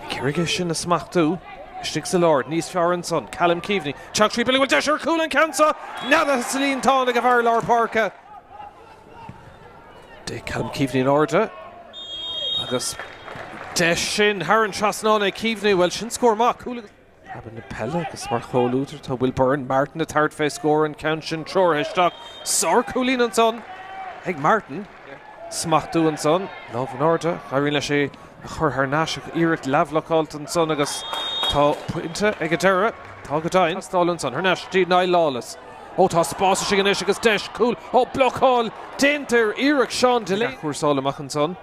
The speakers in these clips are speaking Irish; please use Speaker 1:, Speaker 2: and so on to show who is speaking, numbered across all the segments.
Speaker 1: Cé rige sin a smachtú? Istigh sa lár, níos fearr ansan, Callum Keaveney, teacht tríd, bhuel, bhfuil deis ar cúl an ceann seo neadaithe sa líontán ag a bhfear lár páirce. D'ith Callum Keaveney in airde agus é sin thar an trasnán ag Keaveney, bhuel sin scór maith, cúl agus. Abair na peile agus mar chomhluadar tá Will Byrne, Martin ag tabhairt fé scór an ceann sin treoraithe isteach. Sárchúilín ansan ag Martin. Smachtú ansan. Lámh in airde. Éiríonn leis é a chur thar n-ais ach iarracht leathbhlocáilte ansan agus tá pointe ag an deireadh. Tá go deimhin. Teastáil ansan. Thar n-ais dtí Niall Lawless. Ó tá spás istigh anois agus deis cúl. Ó blocáil déanta ar iarracht Seán Delaney. Athchúrsáil amach ansan.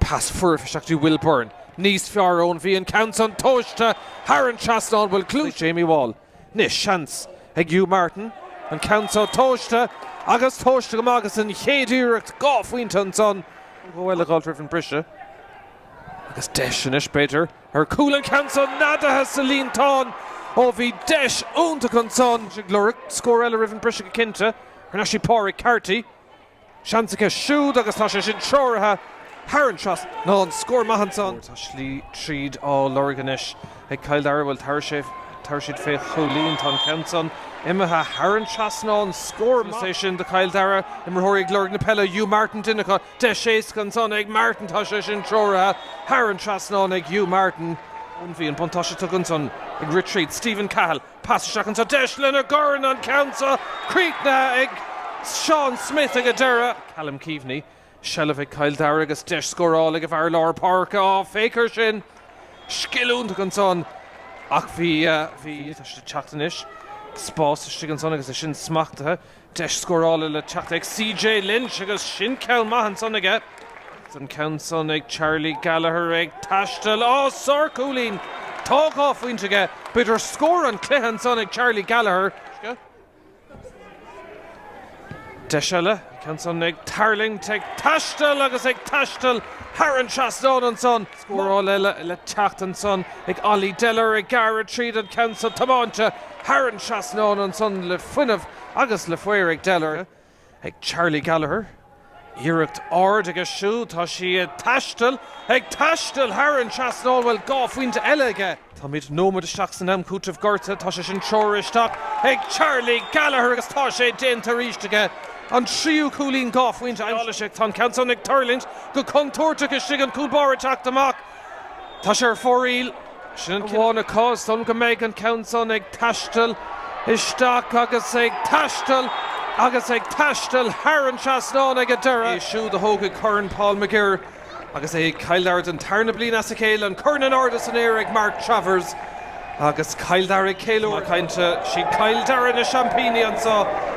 Speaker 1: Pas foirfe isteach do Will Byrne. Níos fearr ó bhí an ceann san tomhaiste thar an trasnán bhuel clú ag Jamie Wall. Anois seans ag Hugh Martin. An ceann so tomhaiste agus tomhaiste go maith agus an chéad iarracht dhá phointe ansan go Uladh dhul roimh an briseadh. Agus deis anois b'fhéidir ar cúl an ceann so neadaithe sa líontán ó bhí deis iontach ansan ag lorg scór eile roimh an briseadh go cinnte thar n-ais dtí Pádraig Carty. seans acu siúd agus tá sé sin treoraithe thar an trasnán scór maith ansan. Tá slí tríd á lorg anois ag Cill Dara, bhuel, tabhair sé, tabhair siad fé chúilín, tá an ceann san imithe thar an trasnán scór maith, is é sin do Chill Dara, imreoirí ag lorg na peile, Hugh Martin duine acu, deis éasca ansan ag Martin, tá sé sin treoraithe thar an trasnán ag Hugh Martin. Bhí an buntáiste tugtha ansan ag rith tríd, Stephen Cahill. Pas isteach anso, deis lena gcorn, an ceann seo críochnaithe ag Seán Smith ag an deireadh. Callum Keaveney, seilbh ag Cill Dara agus deis scórála ag a bhfear lár páirce, á féach ar sin, scil iontach ansan ach bhí, bhí, tá siad ag teacht anois, spás istigh ansan agus é sin smachtaithe. Deis scórála le teacht ag CJ Lynch agus sin ceann maith ansan aige. Agus an ceann san ag Charlie Gallagher ag taisteal, á, sárchúilín! Tá dhá phointe aige, b'fhéidir scór an chluiche ansan ag Charlie Gallagher. Deis eile, an ceann san ag tuirlingt, ag taisteal agus ag taisteal thar an trasnán ansan. Scóráil eile le teacht ansan ag Ollie Deller ag gearradh tríd an ceann so tomáinte thar an trasnán ansan le fuinneamh agus le faobhar ag Deller, ag Charlie Gallagher, iarracht ard aige siúd, tá sí ag taisteal, ag taisteal thar an trasnán, bhuel dhá phointe eile aige. Táimid nóiméad isteach san am cúitimh gorta, tá sé sin treoraithe isteach ag Charlie Gallagher agus tá sé déanta arís aige, an tríú cúilín dhá phointe aimsithe aige. Tá an ceann san ag tuirlingt go contúirteach istigh, an cúl báire ag teacht amach, tá sé ar fóraoil, sin an cinneadh atá ar son go mbeidh an ceann san ag taisteal isteach agus ag taisteal agus ag taisteal thar an trasnán ag an deireadh. Iad siúd a thógfaidh Corn Paul McGirr. Agus é Cill Dara don tarna bliain as a chéile an corn in airde san aer ag Mark Travers agus Cill Dara ag ceiliúradh, cinnte is iad Cill Dara na seaimpíní anseo.